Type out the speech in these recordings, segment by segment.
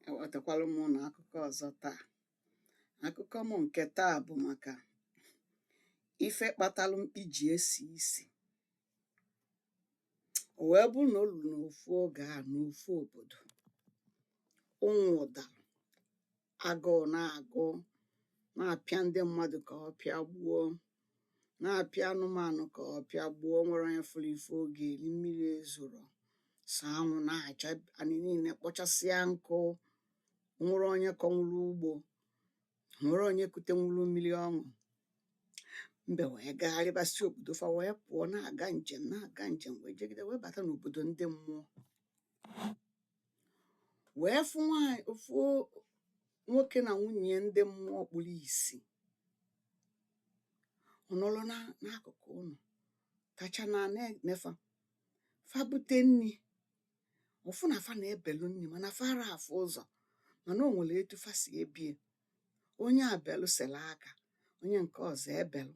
ewetakwala m ụnụ akụkọ ọzọ taa akụkọ m nke taa bụ maka ife kpatalụ mkpi ji esi isi o wee bụrụ na o luru n'ofu oge a n'ofu obodo ụnwụ dara agụụ na-agụ na-apịa ndị mmadụ ka ọ pịagbuo na-apịa anụmanụ ka ọ pịagbuo nwerọ onye fụrụ ife ọ ga-eri mmiri ezorọ sọ anwụ na-acha anị niile kpọchasịa nkụ nwerọ onye kọnwuru ugbo nwerọ onye kutenwuru mmiri ọ ṅụ mbe wee gagharịba si obodo fa wee pụọ na-aga njem na-aga njem wee jegide wee bata n'obodo ndị mmụọ wee fụ nwaanyị fụ nwoke na nwunye ya ndị mmụọ kpuru isi ọ nọrọ na n'akụkụ ụlọ kacha na na-ene fa fa bute nri ọ fụ na fa na-ebelu nri mana fa ara afụ ụzọ mana o nwere etu fa si ebe ya onye a belu sere aka onye nke ọzọ ebelu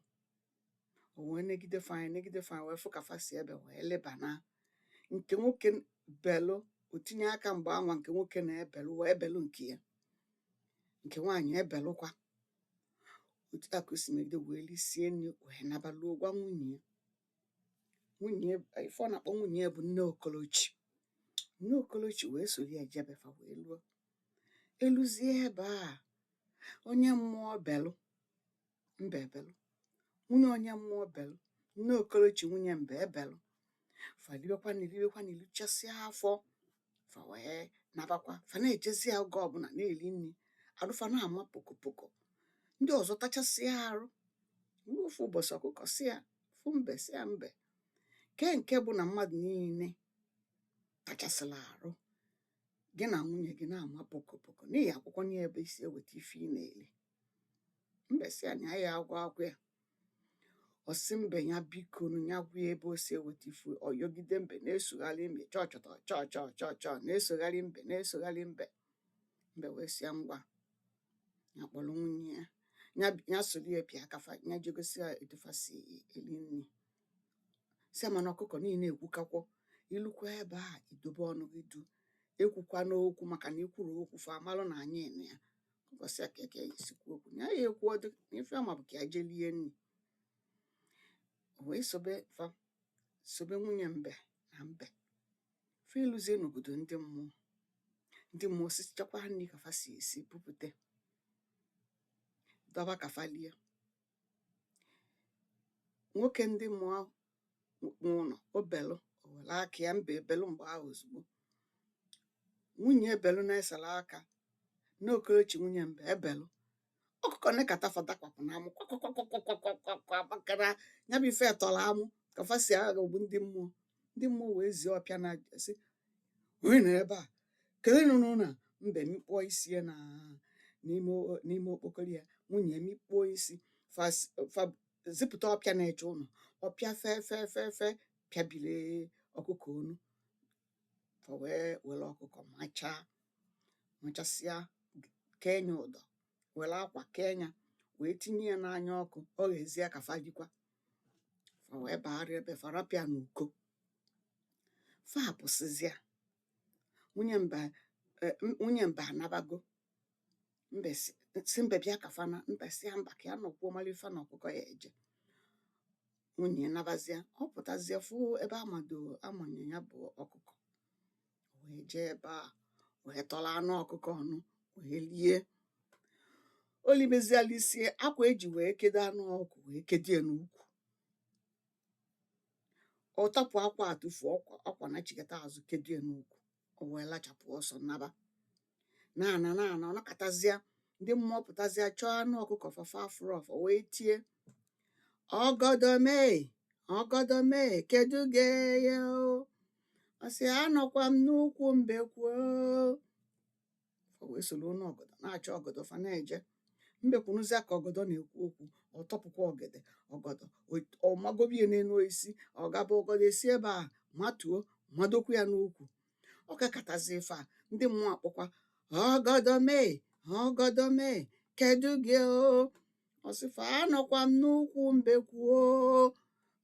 o wee negide fa anya negide fa anya wee fụ ka fa si ebe wee leba na nke nwoke belu o tinye aka mgbe anwa nke nwoke na-ebelu wee belu nke ya nke nwaanyị ebelukwa otu a ka o si megide wee lisie nri wee naba luo gwa nwunye ya nwunye ya ife ọ na-akpọ nwunye ya bụ nne okolochi nne okolochi wee soro ya jebe fa wee luo eluzie ebe a onye mmụọ belu mbe ebelu nwunye onye mmụọ belu nne okolochi nwunye mbe ebelu fa libekwa nri libekwa nri lijuchasịa afọ fa wee nabakwa fa na-ejezi ya oge ọbụla na-eli nri arụ fa na-ama pokopoko ndị ọzọ tachasịa arụ ruo ofu ụbọchị ọkụkọ sị ya fụ mbe sị ya mbe kee nke bụ na mmadụ niile tachasịla arụ gị na nwunye gị na-ama pokopoko n'ihi akwụkwọ nri ebe i si eweta ife ị na-eli mbe sị ya na ya aga agwa ya ọ sị mbe ya bikonụ ya gwa ya ebe o si eweta ife ọ yọgide mbe na-esogharị mbe chọchọtọ chọchọ chọchọ na-esogharị mbe na-esogharị mbe mbe wee sị ya ngwa ya kpọrọ nwunye ya ya bi- ya soro ya bịa ka fa ya je gosi ya etu fa si eri nri sị mana ọkụkọ na ị na-ekwuka okwu i lukwa ebe a i dobe ọnụ gị duu ekwukwana okwu maka na i kwuru okwu fa amalụ na anyị nọ ya ọkụkọ sị ya kee ka ya esi kwuo okwu na ya ekwu ọdụ na ife ya ma bụ ka ya jee lie nri o wee sobe fa sobe nwunye mbe na mbe fa eluzie n'obodo ndị mmụọ ndị mmụọ sichakwa nri ka fa si esi bupute dọba ka fa lie nwoke ndị mmụọ n'ụlọ o belu o were aka ya mbe ebelu mgbe ahụ ozugbo nwunye ebelu na-esere aka nne okorochi nwunye mbe ebelu ọkụkọ nekata fa dakwapụ na amụ kwakwakwakwakwakwa maka na ya bụ ife tọrọ amụ ka fa si aghọgbu ndị mmụọ ndị mmụọ wee zie ọpịa na sị onye nọ ebe a kedu onye nọ n'ụlọ a mbe mikpuo isi ya na n'ime o- n'ime okpokoro ya nwunye mikpuo isi fa s- fa zipụta ọpịa na-eche ụlọ ọpịa fee fee fee fee pịabile ọkụkọ onu fa wee were ọkụkọ machaa machasịa kee nya ụdọ were akwa kee nya wee tinye ya n'anya ọkụ o ghezie ka fa likwa fa wee bagharịa ebe fa rapụ ya n'uko fa apụsịzịa nwunye mbe eh, m- nwunye mbe anabago mbe sị sị mbe bịa ka fa naa mbe sị ya mba ka ya nọkwuo mara ife na ọkụkọ ya eje nwunye nabazịa ọ pụtazịa fụ ebe a mado a manye ya bụ ọkụkọ wee jee ebe a wee tọrọ anụ ọkụkọ ọnụ wee lie o limezie ya lisie akwa e ji wee kedo anụ ọkụkọ wee kedie n'ukwu ọ tọpụ akwa a tụfuo akwa na chigata azụ kedie n'ukwu o wee lachapụ ọsọ naba na-ana na-ana ọ nọkatazịa ndị mmụọ pụtazịa chọọ anụ ọkụkọ fa fa afụrọ fa wee tie ọgọdọ m ee ọgọdọ m ee kedu gị ee o ọ sị anọkwa m n'ukwu mbekwu o fa wee soro onu ọgọdọ na-achọ ọgọdọ fa na-eje mbekwu nụzịa ka ọgọdọ na-ekwu okwu ọ tọpụkwa ọgede ọgọdọ o- ọ magobe ya n'enu osisi ọ gaba ọgọdọ esi ebe a matuo madokwu ya n'ukwu ọ kakatazi ife a ndị mmụọ akpọkwa ọgọdọ m ee ọgọdọ m ee kedu gị o ọ sị fa anọkwa m n'ukwu mbekwu o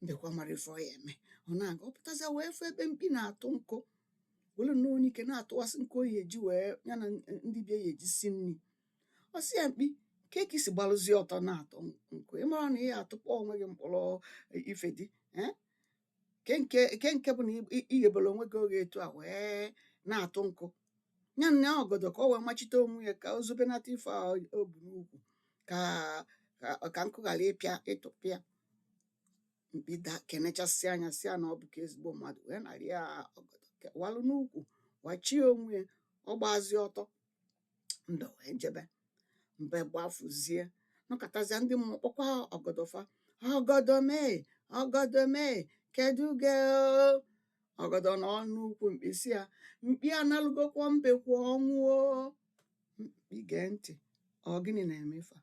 mbekwu amarọ ife ọ ya eme ọ na-aga ọ pụtazịa wee fụ ebe mkpi na-atụ nkụ were nnọọ anyike na-atụwasị nkụ ọ ya eji wee ya na ndị be ya ya eji si nri ọ sị ya mkpi ka ka i si gbalụzie ọtọ na-atụ nkụ ị marọ na ị ya atụkpọ onwe gị mkpọrọ ife dị ee ke nke ke nke bụ na i- i ghebere onwe gị oghe etu a wee na-atụ nkụ ya naa ọgọdọ ka o wee machite onwe ya ka o zobenata ife a o bu n'ukwu ka ka ka nkụ ghara ịpịa ịtụpịa mkpi daa kenechasịa nya sị ya na ọ bụka ezigbo mmadụ wee nara ya ọgọdọ walụ n'ukwu wachie onwe ya ọ gbazie ọtọ mbe wee jebe mbe gbafuzie nọkatazịa ndị mmụọ kpọkwa ọgọdọ fa ọgọdọ m ee ọgọdọ m ee kedu gị ee ọgọdọ nọ n'ukwu mkpi sị ya mkpi analụgokwa mbekwu ọnwụ o mkpi gee ntị ọ gịnị na-eme ife a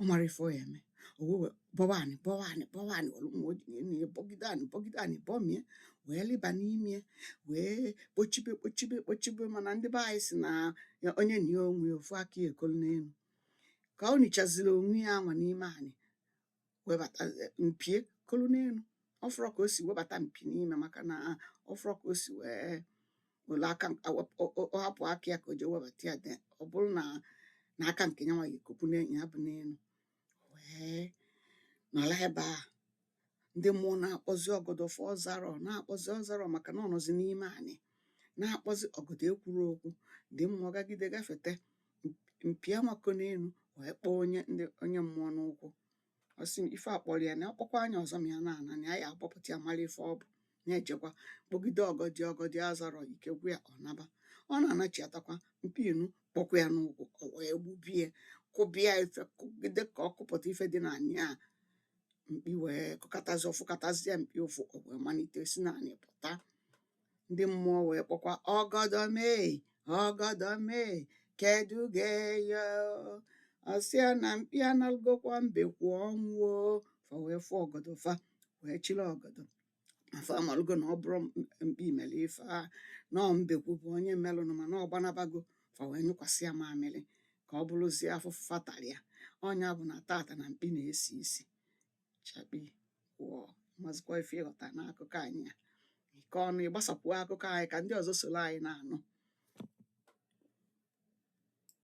ọ mara ife ọ ya eme o wee wee bọwa anị bọwa anị bọwa anị were mma o ji n'elu ya bọgide anị bọgide anị bọmie wee lịba n'ime ya wee kpochibe kpochibe kpochibe mana ndị be anyị sị na onye nie onwe ya ofu aka ya ekolu n'elu ka o nichaziri onwe ya anwa n'ime anị webata eh, mpi ya kolu n'elu ọ fụrọ ka o si webata mpi n'ime maka na ọ fụrọ ka o si wee were aka ọ hapụ aka ya ka o jee webata ya de ọ bụrụ na na aka nke ya nwa ga-ekopu n'enyi ya bụ n'elu wee nọla ebe a ndị mmụọ na-akpọzi ọgọdọ fa ọ zarọ na-akpọzi ọ zarọ maka na ọ nọzi n'ime anị na-akpọzi ọgọdọ ekwuru okwu ndị mmụọ gagide gafete mpi amako n'elu wee kpọọ onye ndị onye mmụọ n'ụkwụ ọ sị ife a kpọrọ ya na ọ kpọkwaa ya ọzọ ma ya na-ana na ya ya abọpụta ya mara ife ọ bụ na-ejekwa kpọgide ọgọdọ ọgọdọ azarọ ike gwụ ya ọ naba ọ na-anachiatakwa mpi inu kpọkwa ya n'ụkwụ o wee gbubie kụba ya ife kụgide ka ọ kụpụta ife dị na anị a mkpi wee kụkatazi ọ fụkatazie mkpi ụfụ o wee malite si na anị pụta ndị mmụọ wee kpọkwa ọgọdọ mee ọgọdọ mee kedu gị eyo ọ sị ya na mkpi analụgokwa mbekwu ọnwụ o fa wee fụ ọgọdọ fa wee chịrị ọgọdọ ma fa amalụgo na ọ bụrọ m- mkpi mere ife a na ọ mbekwu bụ onye melụnụ mana ọ gbanabago fa wee nyụkwasị ya mamịrị ka ọ bụrụzie afụfụ fa talị ya ọ nya bụ na tata na mkpi na-esi isi chakpii wọọ mazikwa ife ị ghọta n'akụkọ anyị a bikonụ gbasapụ akụkọ anyị ka ndị ọzọ soro anyị na-anụ